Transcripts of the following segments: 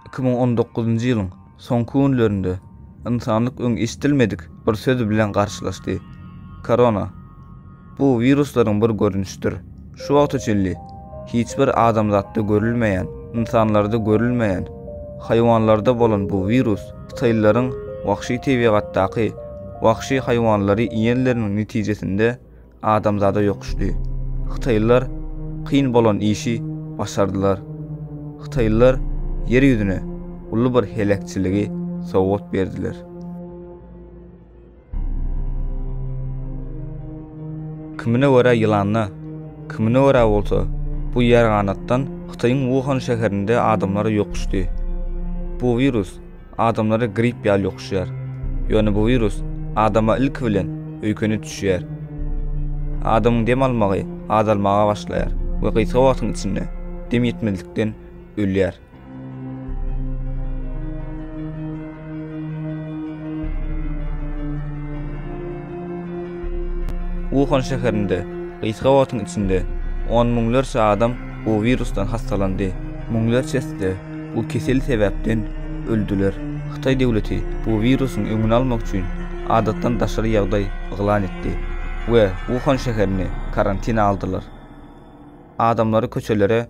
Iki müň on dokuzynjy ýylyň soňky günlerinde ynsanlyk öň eşidilmedik bir söz bilen garşylaşdy. Korona. Bu wiruslaryň bir görnüşidir. Şu wagta çenli hiç bir adamzatda görülmeýän, ynsanlarda görülmeýän, haýwanlarda bolan bu wirus hytaýlylaryň wagşy tebigatdaky wagşy haýwanlary iýenleriniň netijesinde adamzada ýokuşdy. Hytaýlylar kyn bolan işi başardylar. Hytaýlylar Ýer ýüzüne uly bir heläkçiligi sowgat berdiler. Kimine görä ýylanda, kimine görä bolsa bu ýerganatdan Hytaýyň Wuhan şäherinde adamlar ýokuşdy. Bu wirus adamlara grip ýaly ýokuşýar. Ýöne bu wirus adama ilki bilen öýkeni düşýär. Adamyň dem almagy azalmaga başlaýar we gysga wagtyň içinde dem ýetmezlikden ölýär. Wuhan şäherinde gysga wagtyň içinde on müňlerçe adam bu wirusdan hassalandy, müňlerçesi-de bu kesel sebäpden öldüler. Hytaý döwleti bu wirusyň öňüni almak üçin adatdan daşary ýagdaý yglan etdi we Wuhan şäherini karantina aldylar. Adamlary köçelere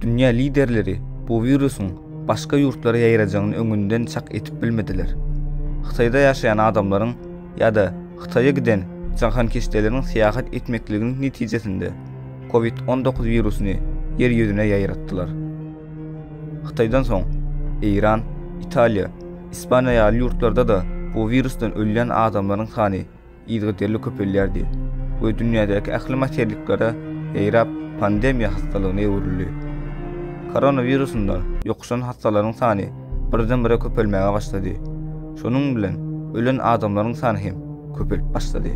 Dünýä liderleri bu wirusyň başga ýurtlara ýaýrajagyny öňünden çak edip bilmediler. Hytaýda ýaşaýan adamlaryň ýa-da Hytaýa giden jahankeşdeleriň syýahat etmekliginiň netijesinde Covid-on dokuz wirusyny Ýer ýüzüne ýaýratdylar. Hytaýdan soň, Eýran, Italiýa, Ispaniýa ýaly ýurtlarda-da bu wirusdan ölýän adamlaryň sany yzygiderli köpelýärdi we dünýädäki ähli materliklere ýaýrap, pandemiýa hassalygyna öwrüldi. Koronawirusundan ýokuşan hassalaryň sany birden-bire köpelmäge başlady, şonuň bilen ölen adamlaryň sany hem köpelip başlady.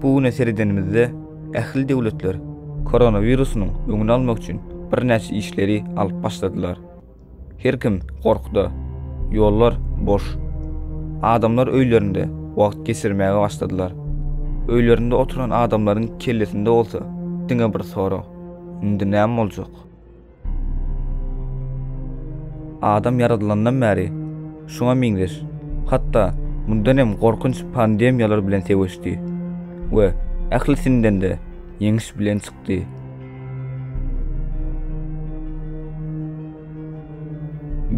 Bu güne seredenimizde ähli döwletler koronawirusynyň öňüni almak üçin birnäçe işleri alyp başladylar. Her kim gorkuda, ýollar boş. Adamlar öýlerinde wagt geçirmäge başladylar. Öýlerinde oturan adamlaryň kellesinde bolsa diňe bir sorag, Indi näme boljak? Adam ýaradylandan bäri şuňa meňzeş, hatda mundan hem gorkunç pandemiýalar bilen söweşdi we ählisinden-de ýeňiş bilen çykdy.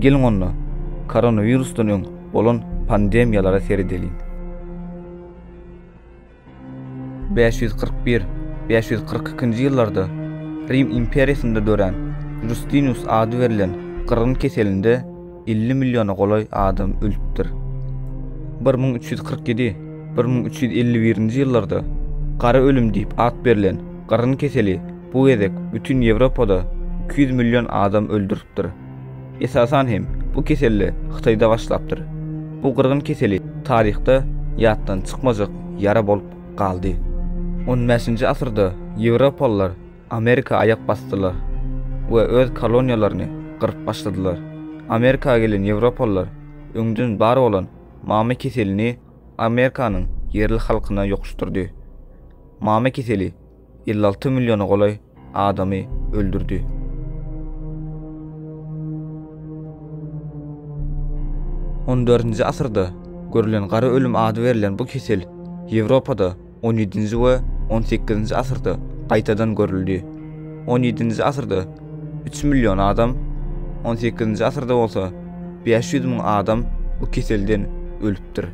Geliň onda, koronawirusdan öň bolan pandemiýalara seredeliň. Bäş ýüz kyrk bir, bäş ýüz kyrk ikinji ýyllarda Rim imperiýasynda dörän Justinus ady berlen gyrgyn keselinde elli milliona golaý adam ölüpdir. Bir müň üç ýüz kyrk ýedi, bir müň üç ýüz elli birinji ýyllarda Gara ölüm diýip at berlen gyrgyn keseli bu gezek bütin Ýewropada iki ýüz million adam öldüripdir. Esasan hem, bu keselle Hytaýda başlapdyr. Bu gyrgyn keseli taryhda ýatdan çykmajak ýara bolup galdy. On bäşinji asyrda ýewropalylar Amerika aýak basdylar we öz koloniýalaryny gyryp başladylar. Amerika gelen ýewropalylar öňden bar bolan mama keselini Amerikanyň ýerli halkyna ýokuşdyrdy. Mama keseli elli alty milliona golaý adamy öldürdi. On dördünji asyrda görülen gara ölüm ady berlen bu kesel Ýewropada on ýedinji we on sekizinji asyrda gaýtadan görüldi. On ýedinji asyrda üç million adam, on sekizinji asyrda bolsa bäş ýüz müň adam bu keselden ölüpdir.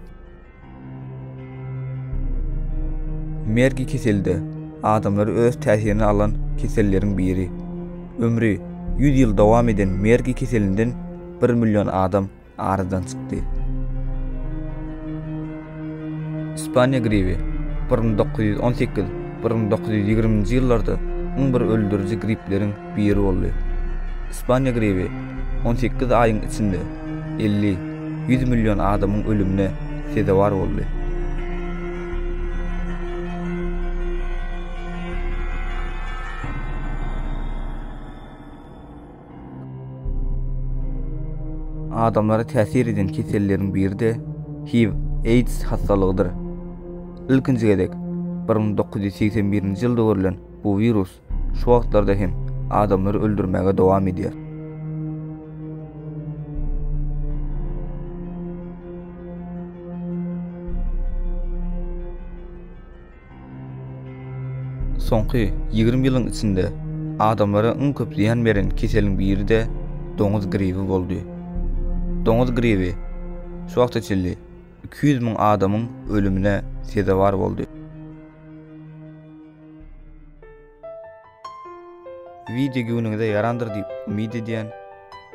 Mergi keselde adamlary öz täsirine alan keselleriň biri. Ömri 100 ýyl dowam eden mergi keselinden 1 million adam aradan çykdy. Ispaniýa gribi 1918-1920-nji ýyllarda iň bir öldüriji gripleriň biri boldy. Ispaniýa grewi on sekiz aýyň içinde elli, ýüz million adamyň ölümine sezewar boldy. adamlara täsir eden keselleriň biri-de HIV, AIDS hassalygydyr. Ilkinji gezek 1981-nji ýylda görlen bu wirus Şu wagtlarda hem adamlary öldürmäge dowam edýär. Soňky 20 ýylyň içinde adamlara iň köp zyýan beren keseliň biri-de doňuz gribi boldy. Doňuz gribi şu wagta çenli 200 müň adamyň ölümine sezewar boldy. Wideo göwnüňize ýarandyr diýip umyt edýän.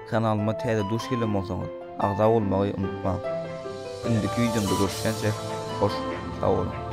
Kanalyma täze duş gelen bolsaňyz, agza bolmagy unutmaň. Indiki wideomda görüşýänçä, hoş sag boluň.